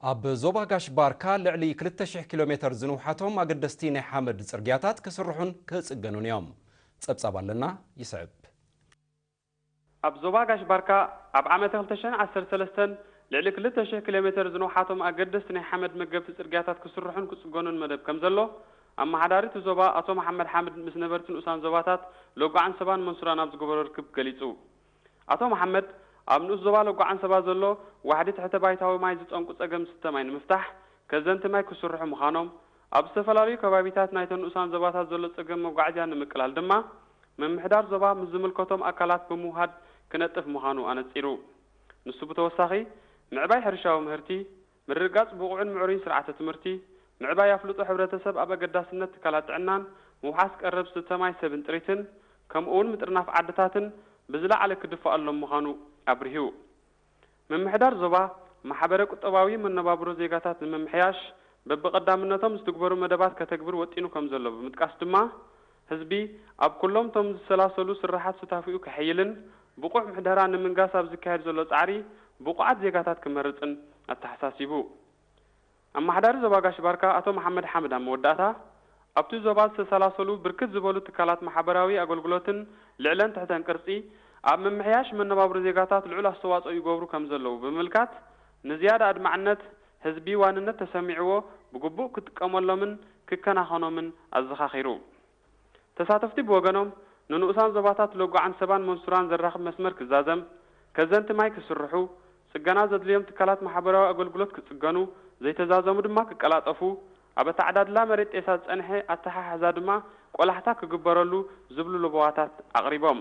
ኣብ ዞባ ጋሽ ባርካ ልዕሊ 2,000 ኪሎ ሜተር ዝንውሓቶም ኣገደስቲ ናይ ሓመድ ጽርግያታት ክስርሑን ክጽገኑን እዮም። ጸብጻብ ኣለና ይስዕብ። ኣብ ዞባ ጋሽ ባርካ፣ ኣብ ዓመተ ክልተ ሽሕን ዓሰርተ ሰለስተን፣ ልዕሊ ክልተ ሽሕ ኪሎሜተር ዝንውሓቶም ኣገደስቲ ናይ ሓመድ መገብቲ ጽርግያታት ክስርሑን ክጽገኑን መደብ ከምዘሎ፣ ኣመሓዳሪ'ቲ ዞባ ኣቶ መሓመድ ሓምድ ምስ ነበርቲ ንኡሳን ዞባታት ሎጎ-ዓንሰባን መንሱራን ኣብ ዝገበሮ ርክብ ገሊጹ። ኣቶ መሓመድ፣ ኣብ ንኡስ ዞባ ሎጎ-ዓንሰባ ዘሎ ዋሕዲ ትሕተ-ባይታዊ ማይ ዝጠንቁ ጸገም ዝስተ ማይ ንምፍታሕ፣ ከዘንቲ ማይ ክስርሑ ምዃኖም፣ ኣብ ዝተፈላለዩ ከባቢታት ናይተን ንኡሳን ዞባታት ዘሎ ፀገም መጓዓዝያ ንምቅላል ድማ ምምሕዳር ዞባ ምስ ዝምልከቶም ኣካላት ብምውሃድ ክነጥፍ ምዃኑ ኣነፂሩ። ንሱ ብተወሳኺ ምዕባይ ሕርሻዊ ምህርቲ፣ ምርግጋፅ ብቑዕን ምዕሩይን ስርዓተ ትምህርቲ፣ ምዕባይ ኣፍልጦ ሕብረተሰብ ኣብ ኣገዳስነት ትካላት ጥዕናን ምውሓስ ቀረብ ዝስተ ማይ ሰብን ጥሪትን ከምኡ እውን ምጥርናፍ ዓድታትን ብዝለዓለ ክድፋኣሎም ምዃኑ ኣብሪሁ። ምምሕዳር ዞባ፣ ማሕበረ ቁጠባዊ መነባብሮ ዜጋታት ንምምሕያሽ በብቐዳምነቶም ዝትግበሩ መደባት ከተግብር ወጢኑ ከምዘሎ ብምጥቃስ ድማ፣ ህዝቢ ኣብ ኩሎም እቶም ዝሰላሰሉ ስርሓት ሱታፌኡ ከሐይልን ብቑዕ ምሕደራ ንምንጋስ ኣብ ዝካየድ ዘሎ ጻዕሪ ብቑዓት ዜጋታት ክመርጽን ኣተሓሳሲቡ። ኣመሓዳሪ ዞባ ጋሽ ባርካ ኣቶ መሓመድ ሓምድ ኣብ መወዳእታ፣ ኣብ'ቲ ዞባ ዝተሰላሰሉ ብርክት ዝበሉ ትካላት ማሕበራዊ ኣገልግሎትን ልዕለን ትሕተን ቅርጺ ኣብ ምምሕያሽ መነባብሮ ዜጋታት ልዑል ኣስተዋጽኦ ይገብሩ ከምዘለዉ ብምምልካት ንዝያዳ ኣድማዕነት ህዝቢ ዋንነት ተሰሚዕዎ ብግቡእ ክጥቀመሎምን ክከናኸኖምን ኣዘኻኺሩ። ተሳተፍቲ ብወገኖም ንንኡሳን ዞባታት ሎጎዓን ሰባን መንሱራን ዘራኽብ መስመር ክዛዘም፣ ከዘንቲ ማይ ክስርሑ፣ ጽገና ዘድልዮም ትካላት ማሕበራዊ ኣገልግሎት ክጽገኑ፣ ዘይተዛዘሙ ድማ ክቀላጠፉ፣ ኣብ ኣተዓዳድላ መሬት ጤሳ ዝጸንሐ ኣተሓሕዛ ድማ ቆላሕታ ክግበረሉ ዝብሉ ለበዋታት ኣቕሪቦም።